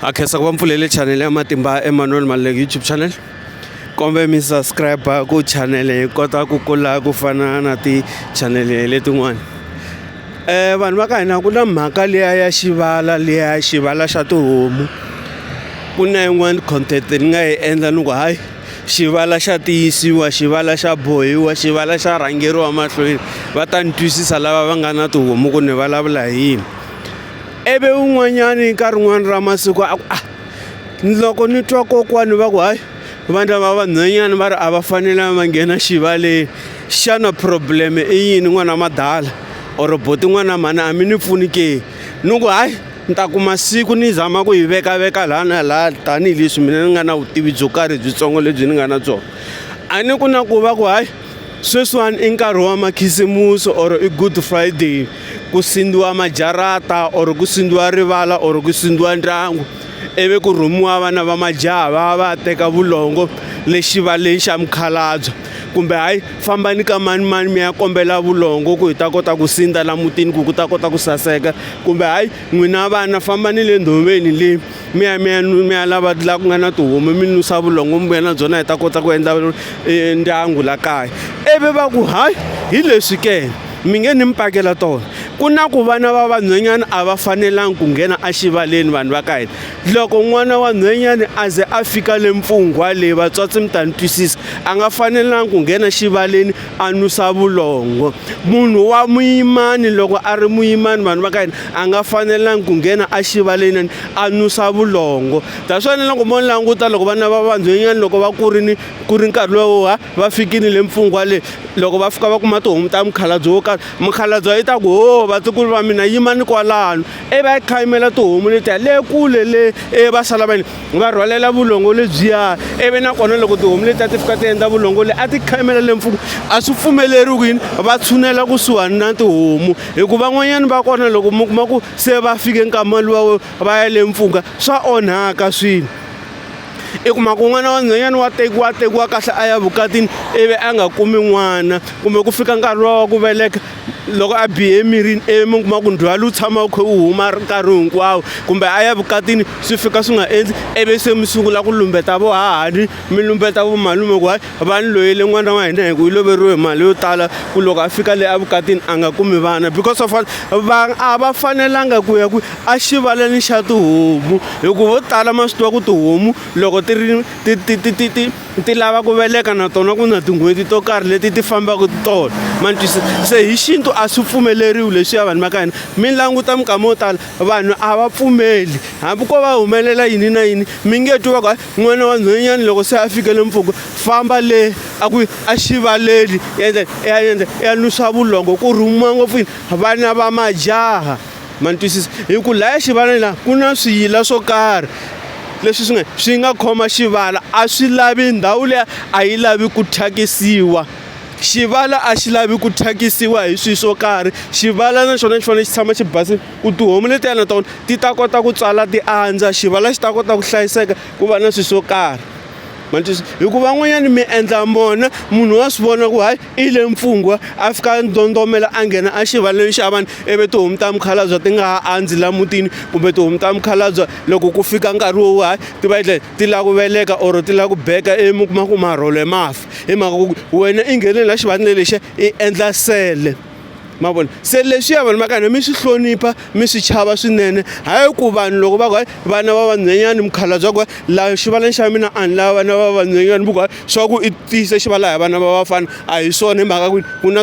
ha khensa ku va mpfulele chanele ya matimba emmanuel maluleki youtube channel kombe mi subscribe ku chanele hi kota ku kula ku fana na tichanele letin'wana um vanhu va ka hina ku na mhaka liya ya xivala liya xivala xa tihomu ku na yin'wani content ni nga yi endla ni ku hayi xivala xa tiyisiwa xivala xa bohiwa xivala xa rhangeriwa mahlweni va ta ni twisisa lava va nga na tihomu ku ni vulavula hi yini ivi un'wanyani ka rin'wana ra masiku a ku a ah, loko ni twa kokwani va ku hayi vandla va vanhwanyana va ri a va fanele va nghena xivaleni xana problem i yini n'wana madala or boti n'wana mhani a mi ni pfuni ke ni ku hayi ni ta kuma siku ni zama ku yi vekaveka laha na laha tanihileswi mina ni nga na vutivi byo karhi byitsongo lebyi ni nga na byona a ni ku na ku va ku hayi sweswiwani i nkarhi wa makhisimusi or i good friday ku sindziwa majarata or ku sindziwa rivala or ku sindziwa ndyangu ivi ku rhumiwa vana va majaha va va teka vulongo le xivaleni xa mukhalabye kumbe hayi fambani ka manimani mi ya kombela vulongo ku hi ta kota ku sindza la mutini ku ku ta kota ku saseka kumbe hayi n'wina vana fambani le ndhoveni le mi ya mi ya mi ya lava laha ku nga na tihomu mi nusa vulongo mi vuya na byona hi ta kota ku endla e, ndyangu la kaya ivi va ku hayi hi leswi ke mi nge ni mi pakela tona ku na ku vana va vanhwenyana a va fanelangi ku nghena exivaleni vanhu va ka hina loko n'wana wa nhwenyana a ze a fika le mpfunghwa leyi vatswatsi mi ta ni twisisa a nga fanelangi ku nghena xivaleni a nusa vulongo munhu wa muyimani loko a ri muyimani vanhu va ka hina a nga fanelangi ku nghena a xivaleni a nusa vulongo that's why loko mo languta loko vana va vanhwenyani loko va kurini ku ri nkarhi lowu ha va fikini le mpfungwa leyi loko va fika va kuma tihomu ta mukhalabye wo karhi mukhalabye yi ta ku ho vatukulu va mina yimani kwalano i va yi khayimela tihomu letiya le kule le e va sala va yini va rhwalela vulongo lebyiya ivi nakona loko tihomu leti a ti fika ti endla vulongo le a ti khamela le mpfuku a swi pfumeleriwi ku yini va tshunela kusuhani na tihomu hikuva van'wanyana va kona loko mi kuma ku se va fike nkama luwa va ya le mpfhuka swa onhaka swilo i kuma ku n'wana wa nhwanyana wa tekiwa tekiwa kahle a ya vukatini ivi a nga kumi n'wana kumbe ku fika nkarhi luwa wa ku veleka loko a bihe emirini emi kuma ku ndzhwalo wu tshama wu kha wu huma nkarhi hinkwawo kumbe a ya vukatini swi fika swi nga endli ivi se mi sungula ku lumbeta vo hahani mi lumbeta vo malume ku hayi va ni loyele n'wana wa hina hi ku yi loveriwe hi mali yo tala ku loko a fika le evukatini a nga kumi vana because of va a va fanelanga ku ya ku a xivaleni xa tihomu hi ku vo tala ma swi tiva ku tihomu loko ti ri ti ti ti ti ti ti lava ku veleka na tona ku na tin'hweti to karhi leti ti fambaka tona mantwisa se hi xintu a swi pfumeleriwi leswiya vanhu va ka hina mi languta minkama yo tala vanhu a va pfumeli hambi ko va humelela yini na yini mi nge twi va ku n'wana wa nhwenyana loko se a fikele mpfhuka famba le a ku a xivaleli endla ya endla ya nusa vulongo ku rhumiwa ngopfu yini vana va majaha ma ni twisisa hi ku laya xivaleni la ku na swiyila swo karhi leswi swi nga swi nga khoma xivala a swi lavi ndhawu leyi a yi lavi ku thyakisiwa xivala a xi lavi ku thyakisiwa hi swilo swo karhi xivala na xona xi fanele xi tshama xi basile ku tihomu letiya na tona ti ta kota ku tswala ti andza xivala xi ta kota ku hlayiseka ku va na swilo swo karhi ma twisisa hi ku van'wanyana mi endla mona munhu wa swi vona ku hayi. I le mpfungwa a fika a ndondomela a nghena a xivaleni xa vanhu ivi tihomu ta mukhalabye ti nga ha andzi la mutini kumbe tihomu ta mukhalabye loko ku fika nkarhi wo hayi ti va ti ti lava ku veleka or ti lava ku beka mi kuma ku marhole ma fa hi mhaka ku wena i nghene la xivaleni lexiya i endla sele. ma vona se leswiya vanhu va ka hina mi swi hlonipha mi swi chava swinene hayi ku vanhu loko va ku hayi vana va vanhwenyani mukhalabya ku la xivaleni xa mina a ni lava vana va vanhwenyani ku swa ku i tiyise xivala hi vana va vafana a hi swona hi mhaka ku ku na